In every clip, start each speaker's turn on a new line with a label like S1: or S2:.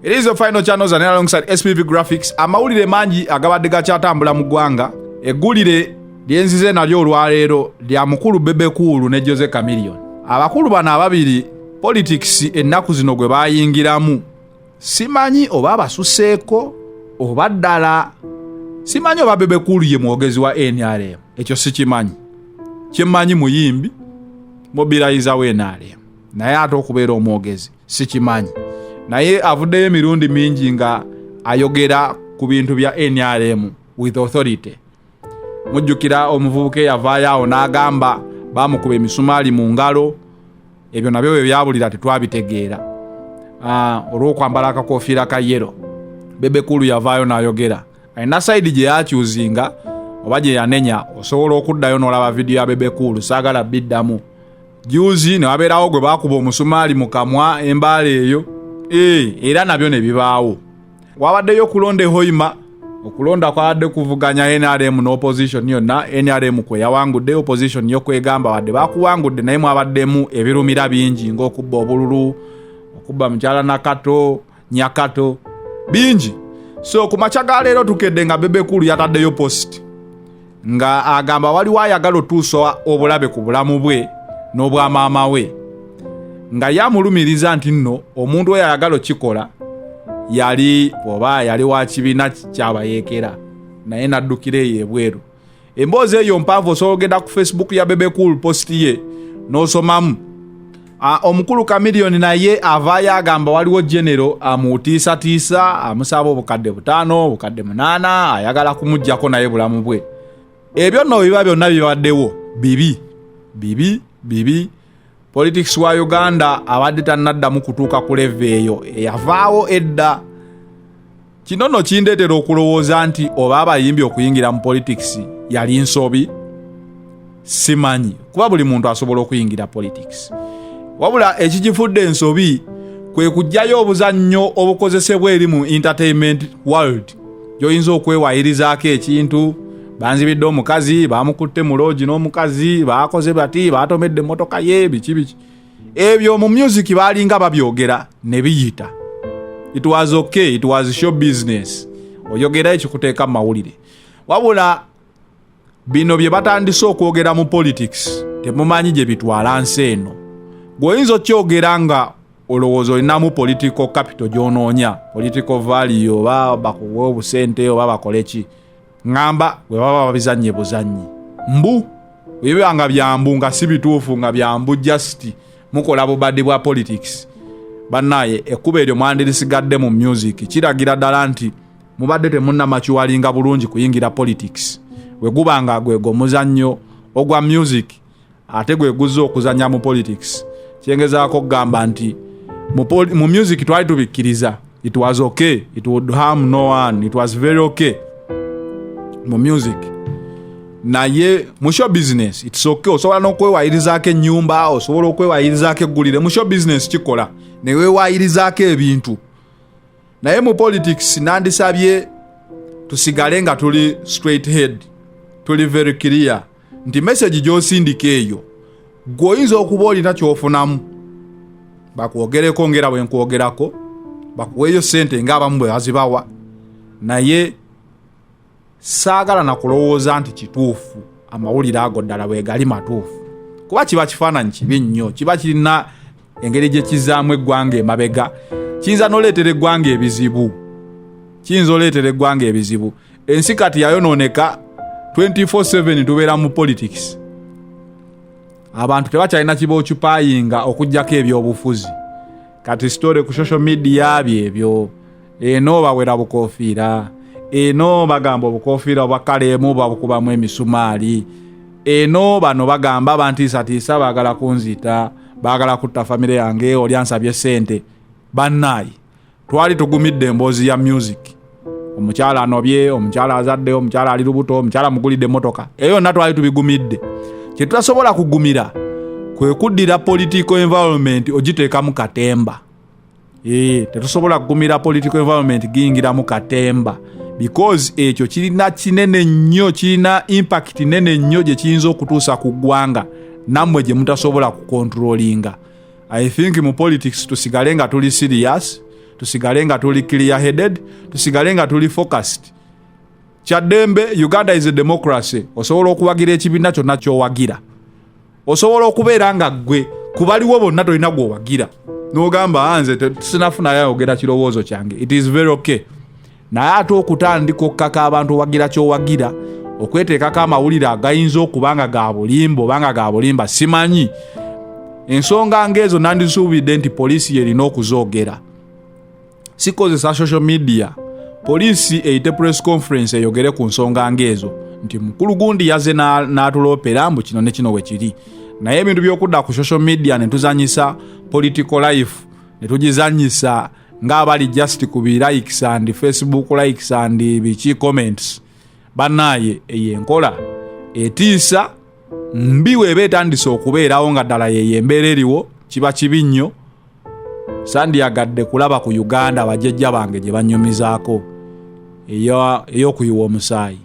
S1: It is your final channels and alongside SPV Graphics amawulire mangi agabadde gakyatambula mu ggwanga eggulire lyenzize nalyo olwaleero lya mukulu Bebe Cool ne Jose Chameleon abakulu bano ababiri politics ennaku zino gwe bayingiramu simanyi oba abasuseeko oba ddala simanyi oba Bebe Cool ye mwogezi wa NRM ekyo sikimanyi kyemmanyi muyimbi mobilizawo NRM naye ate okubeera omwogezi sikimanyi naye avuddeyo emirundi mingi nga ayogera ku bintu bya nrm with authority mujjukira omuvubuka eyavaayo awo n'agamba bamukuba emisumaali mu ngalo ebyo nabyo bwe byabulira tetwabitegeera ah, olw'okwambala akakofiira ka yero bebekulu yavaayo n'ayogera alina sayidi gye yakyuzinga oba gye yanenya osobola okuddayo n'olaba vidiyo ya bebekulu saagala biddamu juuzi ne wabeerawo gwe baakuba omusumaali mu kamwa embaala eyo ee eh, era nabyo ne bibaawo wabaddeyo okulonda ehoima okulonda kwabadde kuvuganya nrm ne opposition yonna nrm kwe yawangudde opposition yo kwegamba wadde bakuwangudde naye mwabaddemu ebirumira bingi ng'okubba obululu okubba mukyala nakato nyakato bingi so ku makya ga leero tukedde nga bebekulu yataddeyo post nga agamba waliwo ayagala otuusa obulabe ku bulamu bwe n'obwa maama we nga yamulumiriza nti nno omuntu oyo ayagala okikola yali oba yali wa kibiina kyabayeekera naye naddukira eyo ebweru emboozi eyo mpanvu osobola ogenda ku facebook ya bebe cool post ye n'osomamu ah, omukulu kamiliyoni naye avaayo agamba waliwo genero amutiisatiisa amusaba obukadde butaano obukadde munaana ayagala kumugjako naye bulamu bwe ebyo nno biba byonna bibaddewo bibi bibi bibi politics wa uganda abadde tanaddamu kutuuka ku leve eyo eyavaawo edda kino no kindeetera okulowooza nti oba abayimbi okuyingira mu politics yali nsobi simanyi kuba buli muntu asobola okuyingira politics wabula ekigifudde ensobi kwe kujjayo obuzannyo obukozesebwa eri mu entertainment world gyoyinza okwewaayirizaako ekintu banzibidde omukazi bamukutte mu loogi n'omukazi bakoze bati batomedde emmotoka ye biki biki ebyo mu music balinga babyogera ne biyita it was okay it was show business oyogera ekikuteeka mu mawulire wabula bino bye batandise okwogera mu politics temumanyi gye bitwala nsi eno gweoyinza okyogera nga olowooza olinamu political capital gyonoonya political valley oba bakuwa obusente oba bakoleki ŋamba bwe baba babizannye buzannyi mbu ebiba nga byambu nga si bituufu nga byambu just mukola bubadi bwa politics banaye ekkuba eryo mwandirisigadde mu music kiragira ddala nti mubadde temunnamakiwalinga bulungi kuyingira politics bwe guba nga gwego omuzannyo ogwa music ate gwe guzza okuzannya mu politics kyengezaako okugamba nti mu music twali tubikkiriza it was okay it would harm no one it was very okay mu music naye mu show business its okay osobola n'okwewayirizaako ennyumba osobola okwewayirizaako eggulire mu show business kikola newewayirizaako ebintu naye mu politics nandisabye tusigale nga tuli straight head tuli very clear nti message gyosindika eyo gwe oyinza okuba olina kyofunamu bakwogereko ngera bwenkwogerako bakuweeyo sente ngaabamu bwebazibawa naye saagala na kulowooza nti kituufu amawulire ago ddala bwegali matuufu kuba kiba kifaananyi kibi nnyo kiba kirina engeri gye kizaamu eggwanga emabega kiyinza noleetera eggwanga ebizibu kiyinza oleetera eggwanga ebizibu ensi kati yayonooneka 24/7 tubeera mu politics abantu tebakyalina kiba okipayinga okugjako ebyobufuzi kati sitore ku social media byebyo eno bawera bukofiira eno bagamba obukofiira obwa kaleemu babukubamu emisumaali eno bano bagamba bantiisatiisa baagala kunzita baagala kutta famire yange oli ansabye sente bannaayi twali tugumidde emboozi ya music omukyala anobye omukyala azadde omukyala ali lubuto omukyala mugulidde emotoka eyo yonna twali tubigumidde kyetutasobola kugumira kwe kuddira political environment ogiteekamu katemba ee tetusobola kugumira political environment giyingiramu katemba because ekyo kirina kinene nnyo kirina impact nene nnyo gye kiyinza okutuusa ku ggwanga nammwe gye mutasobola kukontrolinga i think mu politics tusigale nga tuli serious tusigale nga tuli clear headed tusigale nga tuli focused kyaddembe uganda is a democracy osobola okuwagira ekibiina kyonna kyowagira osobola okubeera nga ggwe ku baliwo bonna tolina gwowagira nogamba ah, nze sinafunayo ayogera kirowoozo kyange it is very okay naye ate okutandika okukaka abantu owagira kyowagira okweteekako amawulire agayinza okuba nga ga bulimba oba nga ga bulimba simanyi ensonga ngaezo nandisuubidde nti poliisi yerina okuzoogera sikozesa social media poliisi eyite press conference eyogere ku nsonga ng'ezo nti mukulu gundi yaze n'atuloopera mbu kino ne kino we kiri naye ebintu by'okudda ku social media ne tuzanyisa political life ne tugizanyisa ng'abali just ku bi likes and facebook likes and biki comments bannaaye eyo enkola etiisa mbi weeba etandise okubeerawo nga ddala yeyo embeera eriwo kiba kibi nnyo sandyagadde kulaba ku uganda abajajja bange gye banyumizaako ey'okuyiwa omusaayi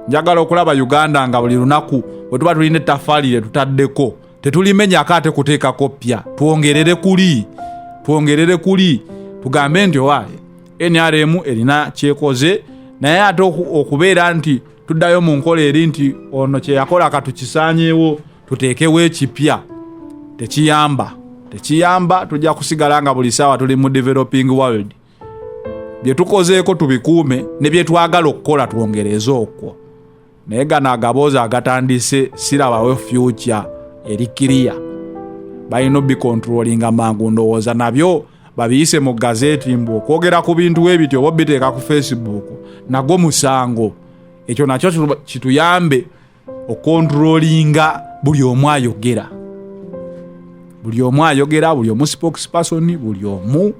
S1: njagala okulaba uganda nga buli lunaku bwe tuba tulina ettafaali lye tutaddeko tetulimenyako ate kuteekako ppya twongerere kuli twongerere kuli tugambe nti owa nrm erina kyekoze naye ate okubeera nti tuddayo mu nkola eri nti ono kyeyakola katukisanyewo tuteekewo ekipya tekiyamba tekiyamba tujja kusigala nga buli saawa tuli mu developing world bye tukozeeko tubikuume ne bye twagala okukola twongereze okwo naye gano agaboozi agatandise sirabawo fyukya eri kiriya balina obikontrolinga mangu ndowooza nabyo babiyise mu gazeti mbu okwogera ku bintu we bityo oba biteeka ku facebook nagwo musango ekyo nakyo kituyambe okontrolinga buli omu ayogera buli omu ayogera buli omu spokesperson buli omu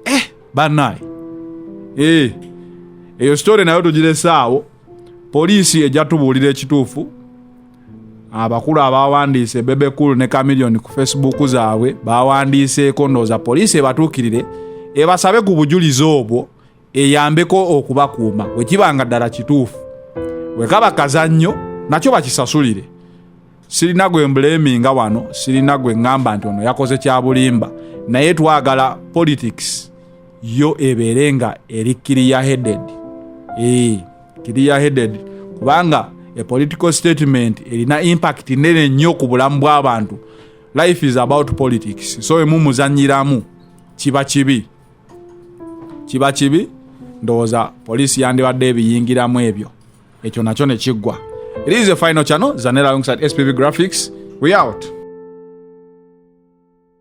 S1: eh, banaye eh, eyo sitore nayo tugiresaawo poliisi ejja tubuulira ekituufu abakulu abawandiise bebekulu ne kamilioni ku facebook zaabwe bawandiiseeko ndooza poliisi ebatuukirire ebasabe ku bujulizi obwo eyambeko okubakuuma bwe kiba nga ddala kituufu bwe kaba kazannyo nakyo bakisasulire sirina gwe mbleminga wano sirina gwe ŋŋamba nti ono yakoze kya bulimba naye twagala politics yo ebeere nga eri kiriya headed ee kiriya headed kubanga a political statement erina impact nene nnyo ku bulamu bw'abantu life is about politics so emumuzanyiramu kiba kibi kiba kibi ndowooza poliisi yandibadde ebiyingiramu ebyo ekyo nakyo ne kiggwa it is a final channel zanera alongside spv graphics we out